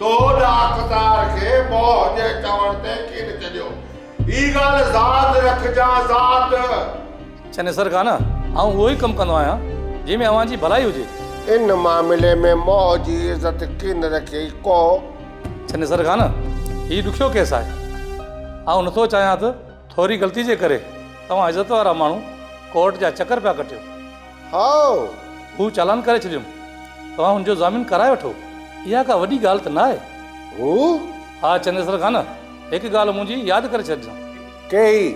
تو ڏاڪتار کي موهه جي چوڻ تي ڪين چڄيو. هي ڳالهه ذات رکجان ذات. چنيسر خان، آئون اهو ئي ڪم ڪندو آهيان، جنهن ۾ اوهان جي ڀلائي هجي. ان معاملي ۾ موهه جي عزت ڪين رکي ڪو. چنيسر خان، هي ڏکيو ڪيس آهي. آئون نٿو چاهيان ته ٿوري غلطي جي ڪري توهان عزت وارا ماڻهو ڪورٽ جا چڪر پيا ڪٽيو. هائو! هو چالان ڪري ڇڏيم. توهان هن جو ضامن ڪرائي وٺو. اها ڪا وڏي ڳالهه ته نه آهي. هو؟ ها چنيسر خان! هڪ ڳالهه منهنجي ياد ڪري ڇڏجان. ڪهڙي؟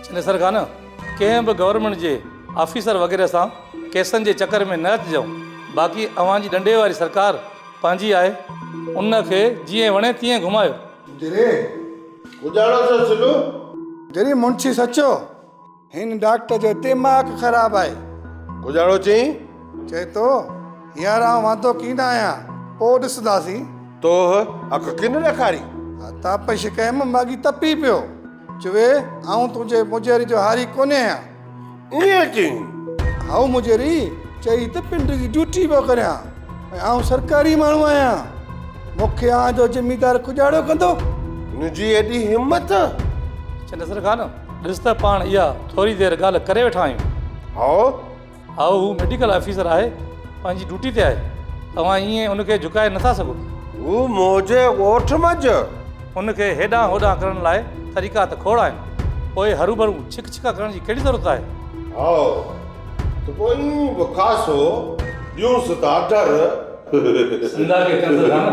چنيسر خان! ڪنهن به گورنمينٽ جي آفيسر وغيره سان ڪيسن جي چڪر ۾ نه اچجو. باقي اوهان جي ڏنڊي واري سرڪار پنهنجي آهي. ان کي جيئن وڻي تيئن گهمايو. دري! اجاڙو ٿيو سلو. دري منشي سچو! هن ڊاڪٽر جو ديماغ خراب آهي. ڪوجهاڙو چين. چئي ٿو، هينئر آئون واندو ڪين آهيان، پوء ڏسنداسين. توهه اک ڪين ڏيکاري؟ تاپش ڪيم، ماڳهين تپي پيو. چوي، آئون تنهنجي مجهري جو هاري ڪونهي آهيان. ائين چين. هائو مجهري، چئي ته پنڊ جي ڊيوٽي پيو ڪريان ۽ آئون سرڪاري ماڻهو آهيان. مون کي آئون جو زميندار ڪوجهاڙو ڪندو؟ تنهنجي ايڏي همت؟ چنڊ سرخان، ڏس ته پاڻ اها ٿوري دير ڳالهه ڪري ويٺا آهيون. هائو؟ هائو، هو ميڊيڪل آفيسر آهي، پنهنجي ڊيوٽي تي آهي، توهان ائين ان کي جهڪائي نٿا سگهو. هو منهنجي ڳوٺ منجهه. ان کي هيڏانهن هوڏانهن ڪرڻ لاء طريقا ته کوڙ آهن، پوء هروڀرو ڇڪ ڇڪا ڪرڻ جي ڪهڙي ضرورت آهي؟ هائو، ته پوء ائين به خاصو ڏيونس ٿا ڍر. سنڌا کي ڪنڌ ٿا نه.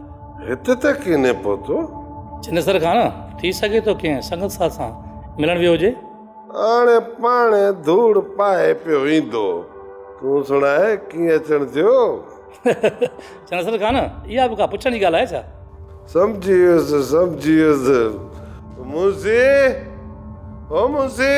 هت ته ڪيني پهتو. چنيسر خان، ٿي سگهي ٿو ڪنهن سنگت ساٿ سان ملڻ ويو هجي. آڻي پاڻي ڌوڙ پائي پيو ايندو. تون سڻاء ڪيئن اچڻ ٿيو. چنيسر خان، اها به ڪا پڇڻ جي ڳالهه آهي ڇا؟ سمجهي ويس سمجهي ويس. منسي او منسي.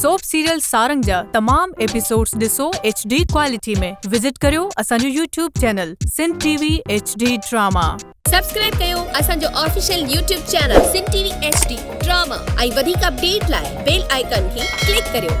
سوپ سيريل سارنگ جا تمام ايپيسوڊز ڏسو ايڇ ڊي ڪوالٽي ۾ وزٽ ڪريو اسان جو YouTube channel Sindh T V H D drama. Subscribe ڪيو اسان جو official YouTube channel Sindh T V H D drama ۽ وڌيڪ اپڊيٽ لاء بيل آئيڪان کي ڪلڪ ڪريو.